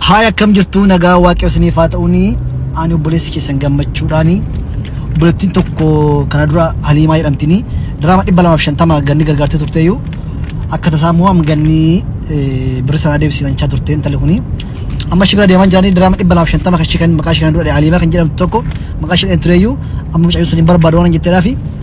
Haay akkam jirtuu nagaa waaqayyo isiniif haa ta'uuni ani obboleessi keessan gammachuudhaani obboleettiin tokko kana dura haliimaa jedhamtini diraama dhibba lamaaf shantama ganni gargaartee turteeyyuu akka tasaa immoo amma ganni birri sanaa deebisiifachaa turte intalli kuni amma ishii bira deemaa jiranii diraama dhibba lamaaf shantama kan ishii kan maqaa ishii kana dura haliimaa kan jedhamtu tokko maqaa ishii dhaheen tureeyyuu amma mucayyoo sun hin barbaadu waan hin jetteedhaafi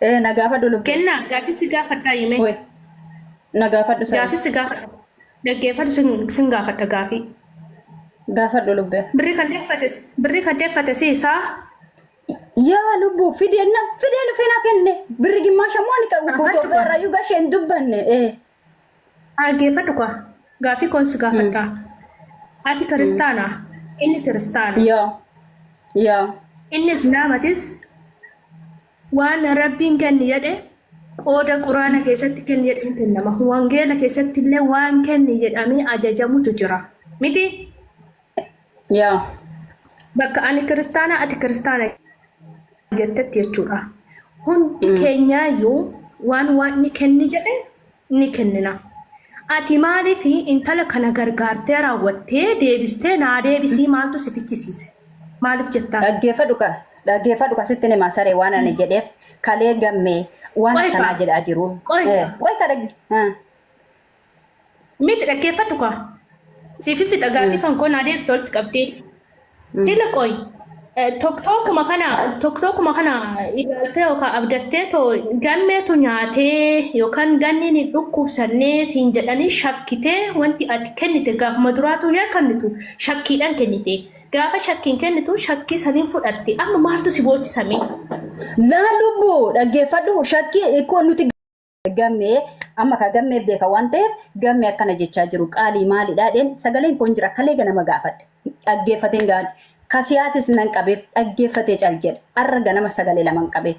Eh, na gaafadhu lubbu. Kennaa gaaffii si gaafadhaa himee. Woi, na gaafadhu sa'i. Gaaffii si gaafadha. Dhaggeeffadhu sin sin gaafadha gaaffii. Gaafadhu lubbee. Birri kan deeffate birri kan deeffate si isaa Yaa lubbu fidee na fidee lufee na kenne birri gimmaasha moo ni qabu Aha, guutuu tokko. irraa yuga ishee hin dubbanne. Eh. Dhaggeeffadhu kaa. Gaaffii koon si gaafadha. Ati kiristaana. Inni kiristaana. Yaa. Yaa. Inni islaamatis waan rabbiin kenni jedhe qooda quraana keessatti kenni jedhe hin kennama. Wangeela keessatti illee waan kenni jedhamee ajajamutu jira. Miti? Yaa. Bakka ani kiristaanaa ati kiristaana jettetti jechuudha. Hundi keenyaayyuu waan waaqni kenni jedhe ni kennina. Ati maaliif intala kana gargaartee raawwattee deebistee naa deebisii maaltu si fichisiise? Maaliif jettaan? Dhaggeeffadhu ka dhaggeeffadhu ka sitti nima saree waan ani jedheef kalee gammee waan Qoy akkanaa kaa. jedhaa jiru. Qoy Eh, kaa. Qoy ka dhagge. Ah. Miti dhaggeeffadhu kaa. Siif fixa gaaffii kan koo naa deebiste walitti qabdee. Jila qoy. Tokkookuma kana tokkookuma kana ilaaltee yookaan abdattee too gammeetu nyaatee yookaan ganniin hin dhukkubsannee siin jedhanii shakkitee wanti ati kennite gaafuma duraatuu yaa kennitu shakkiidhaan kennite. Gaafa shakkiin kennitu shakkii saniin fudhatte amma maaltu si boochisamee? Laa lubbu dhaggeeffadhu shakkii ikkoo nuti gammee amma ka gammee beeka waan ta'eef gammee akkana jechaa jiru qaalii maalidhaa dheen sagaleen kun jira kalee ganama gaafadhe dhaggeeffateen gaafadhe kasiyaatis nan qabeef dhaggeeffatee cal jedhe arra ganama sagalee laman qabee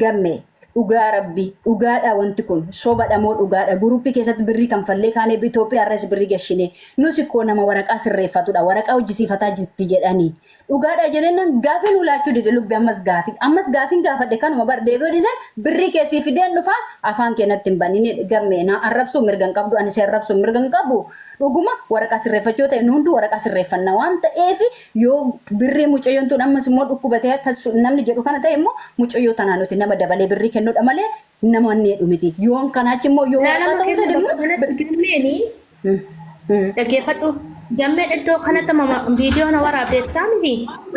gammee dhugaa rabbii dhugaadha wanti kun sobadha moo dhugaadha guruppii keessatti birrii kan fallee kaanee Itoophiyaa irras birrii gashinee nus koo nama waraqaa sirreeffatudha waraqaa hojjisiifataa jirti jedhanii Dhugaadha jenennan gaafii nuu laachuu dide lubbi ammas gaafii ammas gaafiin gaafadhe kanuma bar deebi'uu dhise birrii kee sii fideen dhufaa afaan kee natti hin banini gamme naa arrabsuu mirga hin qabdu ani si arrabsuu mirga hin qabu dhuguma waraqaa sirreeffachuu yoo ta'e nu hunduu waraqaa sirreeffanna waan ta'eef yoo birrii mucayyoon tun ammas immoo dhukkubatee akka namni jedhu kana ta'e immoo mucayyoo tanaa nuti nama dabalee birrii kennuudha malee Nama annee dhumiti. Yoon kanaa achi immoo yoo Laalama waraqaa ta'uu kenna dadhabnu. bakka kanatti gammeeni Mm, mm. dhaggeeffadhu. Gammeen iddoo kanatti amma viidiyoo na waraabdeettaa miti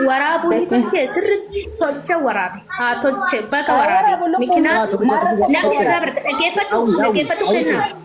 waraabuu ni tolche sirriitti tolche waraabe haa tolche baga Haa waraabe waraabu lubbuun mikinaa Waa tokko tokko Maarree tokko nama tokko. irraa barta dhaggeeffadhu Hawwi, hawwi, dhaggeeffadhu hawwi kennaa. koo.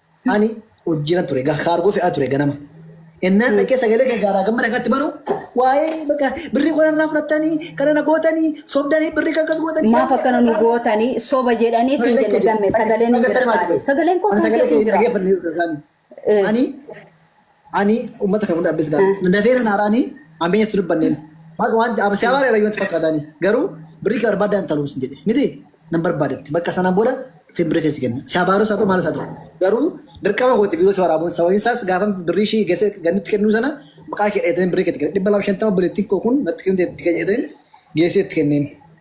Ani hojjiran ture, ga- kaargoo fe'aa ture ganama. Ennaan dhaqee sagalee kee gaaraa gammada kanatti banu waa'ee bakka birrii koo narraa fudhattanii kana na gootanii sobdanii birrii kan akkas gootanii. Maaf akkana nu gootanii soba jedhanii siin jenne gamme sagaleen hin jira taale. Sagaleen koo Ani kan sagalee kee keessin hin jira. dhaggeeffanne yookaan Eh. ani ani ummata kan hunda abbis gaal Mm. dafeera naaraani ambeenya tu dubbanneen maal wanti abba siyaa baara wanti fakkaataani garuu birrii kee barbaadda hin taluus jedhe miti nan barbaadetti bakka sana booda fin birrii keessi kenna siyaa baaruu isaa ta'u maal isaa ta'u garuu dirqama kooti viidiyoo si waraabuun sababiin isaas gaafa birrii ishii geesse gannitti kennuu sana maqaa kee dheeteen birrii keetti kenna dhibba lama shantama buleettiin koo kun natti kennite itti kenneen geessee itti kenneen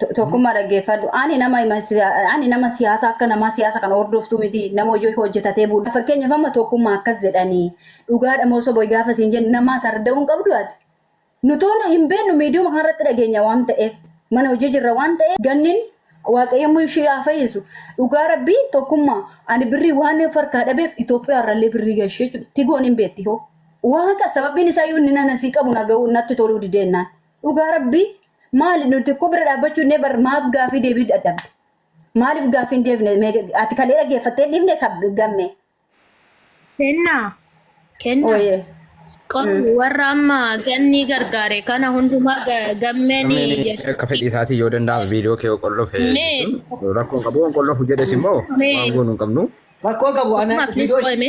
To- Tokkummaa dhaggeeffadhu. Ani nama ima- siya- ani nama siyaasa akka namaa siyaasa kana hordoftu miti. Nama hojii hojjetatee bulu. Fakkeenyaaf amma tokkummaa akkas jedhanii dhugaadha moo soba gaafa siin jennu namaa sarda'uu hin qabdu ati. Nutoon hin beeknu miidiyuma kanarratti dhageenya waan ta'eef mana hojii jirra waan ta'eef gannin waaqayyoommoo ishee haa fayyisu. Dhugaa rabbii tokkummaa ani birrii waan of harkaa dhabeef Itoophiyaa irrallee birrii gashee jiru. Tigoon hin beetti hoo. Waaqa sababiin isaa yoo inni nana sii qabu na ga'u natti toluu dideennaan. Dhugaa rabbii maali nuti tokko bira dhaabbachuu innee bar maaf gaafii deebii dadhabde. Maaliif gaafii hin deebine mee ati kalee dhaggeeffattee hin dhifne kab- gamme. Kenna. Kenna. Ooyee. Qonni warra amma ganni gargaare kana hundumaa ga- gammeen Gammeen akka fedhii isaatii yoo danda'ame viidiyoo kee qollofe Mee- jechuun rakkoon qabu waan qollofu jedhes immoo Mee- waan goonu hin qabnu. Rakkoo qabu ana Maqaan viidiyoo qo'ame.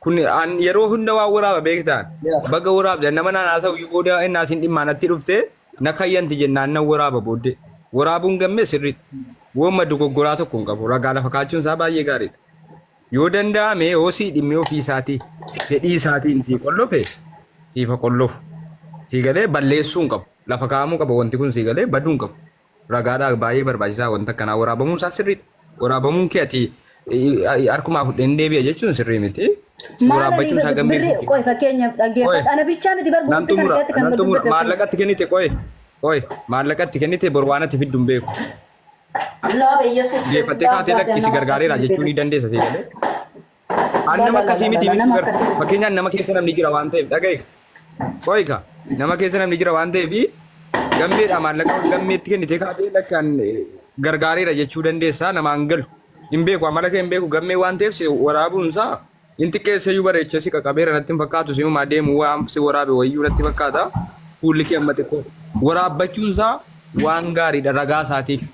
Kun an yeroo hunda waan waraaba beektaan. Yeah. Baga waraabde nama naan haasa'u iyyuu booda inni asiin dhimmaa natti dhufte na kayyanti jennaan nan waraaba booddee. Waraabuun gammee sirrii. Woomma dogoggoraa tokko hin qabu. Ragaa lafa kaachuun isaa baay'ee gaariidha. Yoo danda'ame yoo sii dhimmee ofii isaatii fedhii isaatiin sii qollofe siifa qollofu. Sii galee balleessuu hin qabu. Lafa kaa'amuu qaba wanti kun sii galee baduu hin qabu. Ragaadha baay'ee barbaachisaa wanta akkanaa waraabamuun isaa sirriidha. Waraabamuun kee ati harkumaa fudheen deebi'a jechuun sirrii miti. Si Maala waraabbachuun isaa gammee birrii guutuu. qoy fakkeenyaaf Qoy. dhaggeeffadha. Ana bichaa miti bar Nan gurgurtaa xumura, keessatti kan nan madda xumura. gaggeeffamu. Maallaqatti kennite qoy. Qoy, maallaqatti kennite bor waan ati fiddu hin beeku. Love Yesus. Deeffattee kaatee lakki si gargaareera jechuu ni dandeessa si jedhee. An nama akkasii miti miti bar. Fakkeenyaan nama keessa namni jira waan ta'eef dhaga'iif. Qoyika nama keessa namni jira waan ta'eef gammeedha maallaqa gammeetti kennitee kaatee lakkaan gargaareera jechuu dandeessaa namaan galu. Hin beeku amala kee hin beeku gammee waan ta'eef si waraabuun isaa hin xiqqeessee iyyuu bareechee si qaqabeera natti hin fakkaatu si uumaa deemu waan si waraabe wayyuu natti fakkaata. Fuulli kee amma xiqqoo waraabbachuun isaa waan gaariidha ragaa isaatiif.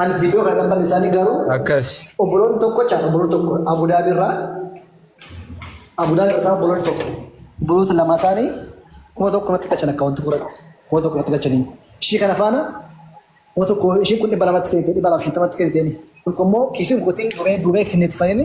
Ani viidiyoo kana kan bal'isaanii garuu Akkas. obboloonni tokko caan obboloonni tokko Abudaabii irraa Abudaabii irraa obboloonni tokko obboloota lama isaanii kuma tokko irratti galchan akkaawwantii fuuratti kuma tokko irratti galchanii ishii kana faana kuma tokko ishii kun dhibba lamatti kennite dhibba lama shantamatti kennite kun immoo kiisiin kootiin duubee duubee kennetti fayyini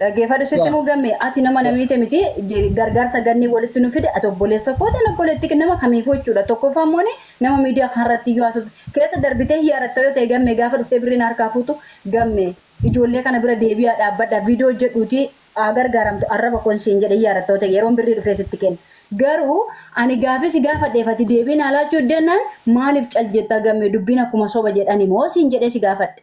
Dhaggeefadhu sitti Yaa. muu gamme ati nama Yaa. namiite miti je- gargaarsa ganni walitti nu fide ati obboleessa koota na obboleetti nama kamiifuu jechuudha tokkoffaa immoo ni nama miidiyaa kanarratti iyyuu haasofte keessa darbitee hiyaaratta yoo ta'e gamme gaafa dhuftee birrii na harkaa fuutu gamme ijoollee kana bira deebi'aa dhaabbadha viidiyoo hojjedhuuti haa gargaaramtu arraba koon siin jedhe hiyaaratta yoo ta'e yeroon birrii dhufee sitti kenna garuu ani gaafii si gaafadheef ati deebii naa laachuu didannaan maaliif cal jettaa gamme dubbiin akkuma soba jedhani moo siin jedhee si gaafadhe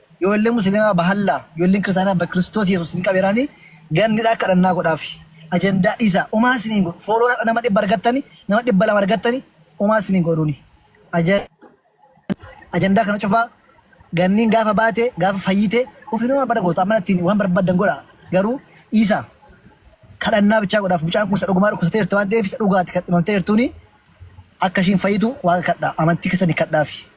Ijoolleen musilimaa bahallaa ijoolleen kiristaanaa ba kiristoos yesuus isin qabeeraani gannidhaa kadhannaa godhaafi ajandaa dhiisaa umaa isin hin godhu foolooraa nama dhibba argattani nama dhibba lama argattani umaa isin hin godhuni ajandaa kana cufaa ganniin gaafa baate gaafa fayyite ofiin waan bada gootu amma ittiin waan barbaddan godha garuu dhiisaa kadhannaa bichaa godhaaf mucaan kun isa dhugumaa dhukkubsatee jirtu waan ta'eef isa dhugaati kan dhimamtee jirtuuni akka ishiin fayyitu waaqa kadhaa amantii keessan kadhaafi.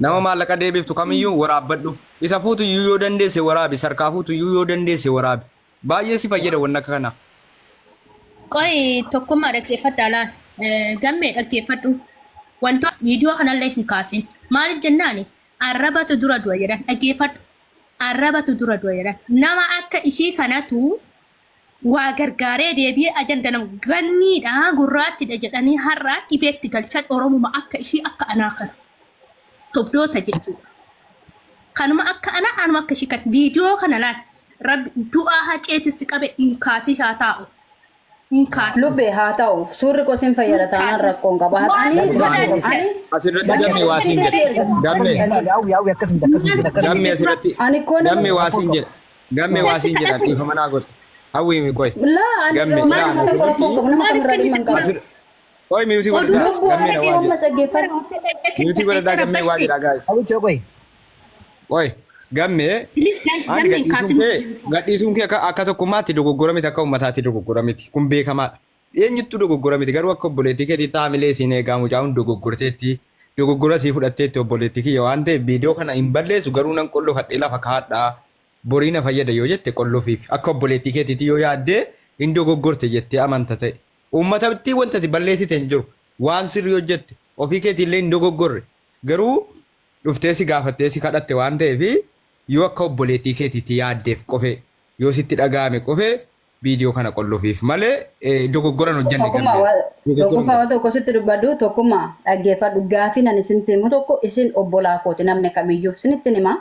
Nama maallaqa deebiftu kamiyyuu waraabbadhu. Isa fuutu iyyuu yoo dandeesse waraabi. Isa harkaa fuutu iyyuu yoo dandeesse waraabi. Baay'ee si fayyada wanni akka kanaa. Qoyi tokkummaa dhaggeeffadhaa laal. Eh, Gammee dhaggeeffadhu. Wantoota viidiyoo kanallee hin kaasin. Maaliif jennaani? Arrabatu dura du'a jedhan. Dhaggeeffadhu. Arrabatu dura du'a jedhan. Nama akka ishii kanatu Waa gargaaree deebi'ee ajanda nama ganniidha gurraattidha jedhanii har'a dhibeetti galchan oromuma akka ishii akka anaa kana sobdoota jechuudha. Kanuma akka anaa anuma akka ishii kan viidiyoo kana laal rabbi du'aa haceetti si qabe hin kaasii haa taa'u hin kaasii. Lubbee haa ta'u suurri koo sin fayyada taanaan rakkoon qaba. Ani ani Asirratti gammee waa siin jedhe. Gammee. Yaa'u yaa'u akkas miti akkas miti akkas miti. Gammee asirratti. Ani koo nama- Gammee waa siin jedhe. Gammee waa siin jedha dhiifama naa godhi. Hawwiimi qoy. Laa ani Gamme, laa laa, nama tokko rakkoo hin qabu nama kamirraa dhimma hin qabu. Asir. Qoy miyuutii Oduu godhadhaa. lubbuu Gammee na argee waa jedha. ummata dhaggeeffadhu. Miyuutii godhadhaa gammee waa jedhaa gaayis. Hawichoo qoy. Qoy. Gammee. Ani gadhiisuun kee gadhiisuun kee akka akka tokkummaatti dogoggora miti akka uummataatti dogoggora miti kun beekamaadha. Eenyuttuu dogoggora miti garuu akka obboleettii keetiitti haamilee isiin eegaa mucaa kun dogoggorteetti dogoggora isii fudhatteetti obboleettii kiyya waan ta'eef viidiyoo kana hin balleessu garuu nan qollofadhee lafa kaa'adha borii na fayyada yoo jette qollofiif akka obboleettii keetiitti yoo yaaddee hin dogoggorte jettee amanta ta'e uummatatti wanta ati balleessite hin jiru waan sirrii hojjette ofii keetiillee hin dogoggorre garuu dhuftee si gaafattee si kadhatte waan ta'eef yoo akka obboleettii keetiitti yaaddeef qofee yoo sitti dhaga'ame qofee viidiyoo kana qollufiif malee eh, dogoggoran hojjanne Tokkummaa gammee. waa- Dogoggoran tokkummaa waan tokko sitti dubbadhu tokkummaa dhaggeeffadhu gaafii nan isinitti himu tokko isin obbolaa kooti namni kamiyyuu isinitti hima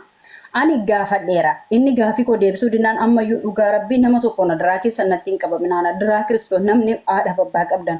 ani gaafadheera inni gaafii koo deebisuu dinaan ammayyuu dhugaa rabbii nama tokko na duraa keessan natti hin qabaminaan duraa kiristoos namni haadhaaf abbaa qabdan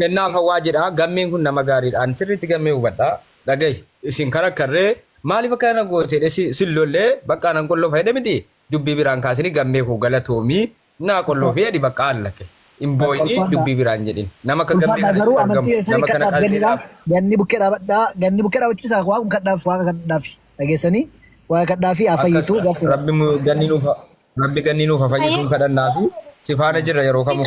Kennaaf Hawwaa jedha. Gammeen kun nama gaariidha. Ani sirriitti gammee hubadha. Dhagahi. Isin kan akkarree maaliif akka kana goote jedhee si- sin lollee baqqaa nan qolloo fayyada miti. Dubbii biraan kaasini gammee koo galatoomii naa qolloo fi jedhi baqqaa allaqe. Hin booyini Ulfaadha. dubbii biraan jedhin. Nama akka gammee Ulfaadhaa kana garuu argamu. amantii keessanii Nama kana kadhaaf qalbii gannidha. laaf. Ganni bukkee dhaabadhaa. Ganni bukkee dhaabachuu isaa waaqum kadhaaf waaqa kadhaaf dhageessanii waaqa kadhaa fi haa Akkas fayyitu gaaffiidha. rabbi mu- ganni nuuf ha- rabbi ganni nuuf ha fayyisuun kadhannaa fi si faana jirra yeroo kamuu.